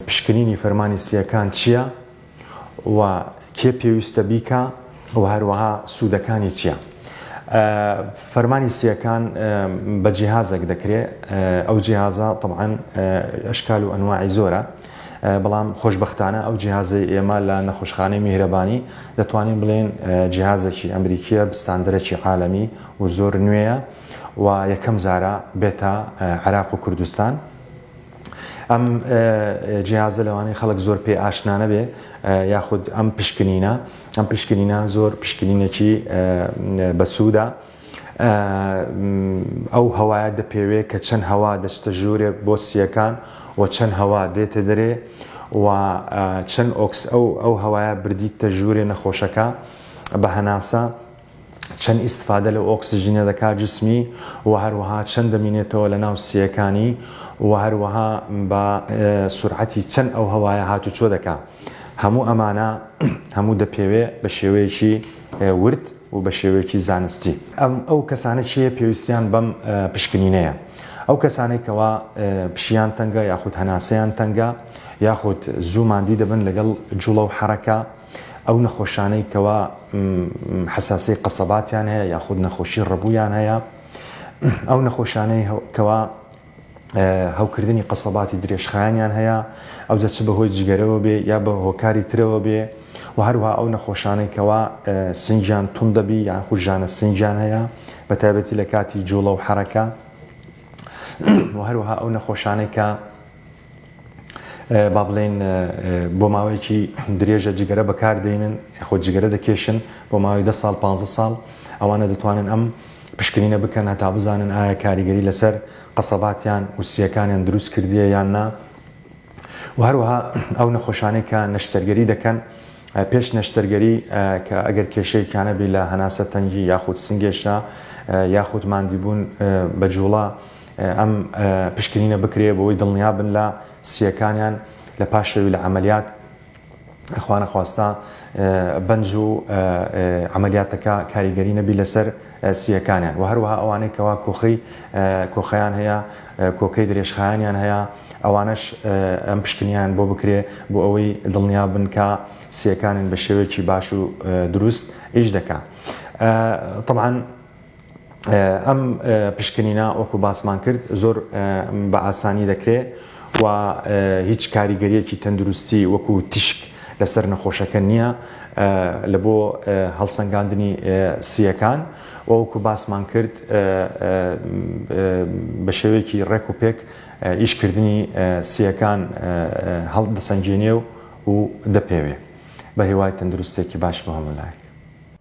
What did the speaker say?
پشکنینی فەرمانی سییەکان چییە و کێ پێویستە بیکا و هەروەها سوودەکانی چییە؟ فەرمانی سییەکان بە جیهازێک دەکرێ، ئەو جیهازە تەبعەن ئەشکال و ئەنواعی زۆرە، بەڵام خۆشبەختانە ئەو جیهازەی ئێمە لە نەخۆشخانەی میهرەبانی دەتوانین بڵێین جیهازێکی ئەمریکییە بستاندرەکی عالەمی و زۆر نوێیە و یەکەم جارە بێتە عێراق و کوردستان. ئەم جیازە لەوانەیە خەڵک زۆر پێ ئاشنا نەبێ یاخود ئەم پشکنینە ئەم پشکنینە زۆر پشکنینێکی بەسوودە ئەو هەوایە دەپێوێ کە چەند هەوا دەچتە ژوورێ بۆ سیەکان و چەند هەوا دێتە دەرێ و چەند ئۆکس ئەو ئەو هەوایە بردیتە ژوورێ نەخۆشەکە بە هەناسە چەند ئیستفادە لە ئۆکسجینە دەکات جسمی و هەروەها چەند دەمینێتەوە لە ناو سیەکانی و هەروەها بە سرعەتی چەند ئەو هەوایە هاتوچۆ دەکا هەموو ئەمانە هەموو دەپێوێ بە شێوەیەکی ورد و بە شێوەیەکی زانستی ئەم ئەو کەسانە چیە پێویستیان بەم پشکنینەیە ئەو کەسانەی کەوا پشیان تەنگە یاخود هەناسەیان تەنگە یاخود زوو مادی دەبن لەگەڵ جوڵە و حرەکە ئەو نەخۆشانەی کەوا حساسی قەسەباتیان هەیە یاخود نەخۆشی ڕەبوویان هەیە ئەو نەخۆشانەی کەوا هەوکردنی قەسەباتی درێژخایانیان هەیە ئەو دەچ بەهۆی جگەرەوە بێ یا بە هۆکاری ترەوە بێ و هەروها ئەو نەخۆشانەی کەوا سنجیان تون دەبی یان خوژانە سنجیان هەیە بە تایبەتی لە کاتی جوڵە و حرەکە و هەروها ئەو نەخۆشانەی کە با بڵێین بۆ ماوەیەکی درێژە جگەرە بەکاردێنن خۆ جگەرە دەکێشن بۆ ماوەی ده ساڵ پ ساڵ ئەوانە دەتوانن ئەم پشکنینە بکەن هەتا بزانن ئایا کاریگەری لەسەر قەسەباتیان و سیەکانیان دروست کردیە یان نا و هەروەها ئەو نەخۆشانەی کە نەشتەرگەری دەکەن پێش نەشتەرگەری کە ئەگەر کێشەیەکیانە بی لە هەناسە تەنگی یاخود سنگێشە یاخود مادیبوون بە جوڵە ئەم پشکنینە بکرێ بەوەی دڵنیا بن لە سییەکانیان لە پاش شەوی لە عەمەلیات، خواانەخواستە بەنج و عەمەلیاتەکە کاریگەری نەبی لەسەر سییەکانیان و هەروەها ئەوانەی کەوا کۆخەی کۆخەیان هەیە کۆکەی درێژخایەنیان هەیە ئەوانەش ئەم پشکنیان بۆ بکرێ بۆ ئەوەی دڵنیا بن کە سییەکانیان بە شێوەیەکی باش و دروست ئیش دەکا. تەبعەن ئەم پشکنینە وەکو باسمان کرد زۆر بە ئاسانی دەکرێ و هیچ کاریگەریەکی تەندروستی وەکو تیشک لەسەر نەخۆشەکە نییە لە بۆ هەڵسەنگاندنی سیەکان وەکو باسمان کرد بە شێوەیەکی ڕێک و پێک ئیشکردنی سیەکان هەڵ دەسەنگێنێ و و دەپێوێ بە هیوای تەندروستێکی باش بە هەمولایەک.